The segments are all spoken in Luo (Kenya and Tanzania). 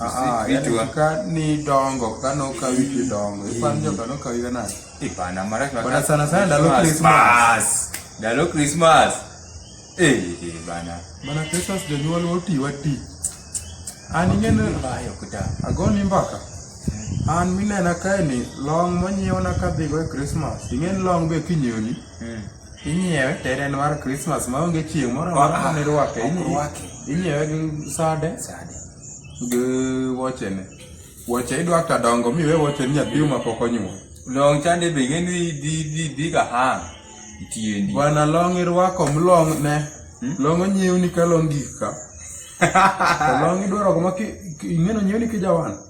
Ah, yani kika ni dongo kana ukawiki dongo ipanjo kana ukawika na ipana mara kwa bana sana sana dalo Christmas dalo Christmas eh bana bana Christmas de nyuwa loti wati ani ngene bayo kuta agoni mbaka an minena kae ni long monyiewna kadhigo e Christmas ing'eni long be kinyoni hmm. Inyiewe to en mar Christmas ma onge chieng' moro amora ma ne rwake. Ok Inyi- rwake. Inyiewe gi sade Sade. gi wochene. Woche idwa ka dongo miwe woche ni nyathi ma pok onyuol. Long chande be ing'e ni dhi dhi dhi ka hang tiendi. Bwana long irwako mlong ne. Long onyiewni ka long gik ka. To long idwaro kuma ki- ki- ing'eno nyiewni kijawan.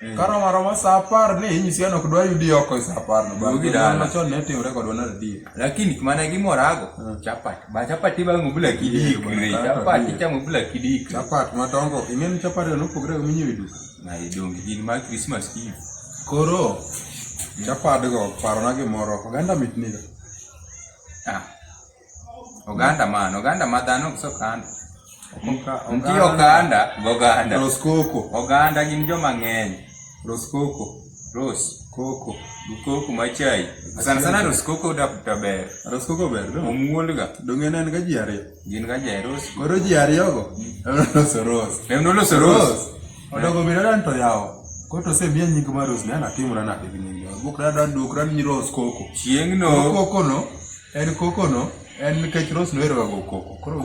Mm. Karo maro ma saa apar ni inyisi an ok dwa yudi oko e saa apar no. Bang' gidala. Machon ne timre kodwa na radio. Lakini kumana gimorago mm. chapati. Ba chapati ba ngubula kidi kure. Chapati cha ngubula kidi kure. Chapati matongo. Ingeni chapati no pogre go minyi vidu. Na idongi gin ma Christmas Eve. Koro. Mm. Chapati go paro na gimoro. Oganda mitni. Ah. Oganda man, oganda ma dhano ok sokanda. Nitie oganda goganda. Roskoko. Oganda gin joma ng'eny. Roskoko. Ros. Koko. Koko machai. Sana sana roskoko to ber. Roskoko ber. Omuol ga. Donge en ga ji ariyo. Gin ga ji ariyo. Koro ji ariyo go. Ros. Ros. Ros. Ros. Odogo bedo dan to yawo. Koto se biya nying ma Rose ne anatimora nade gi nying yawo. Bukra dan duk ran nyi Rose koko. Chieng'no. Koko no en koko no en nikech Rose nohero ga go koko. Koro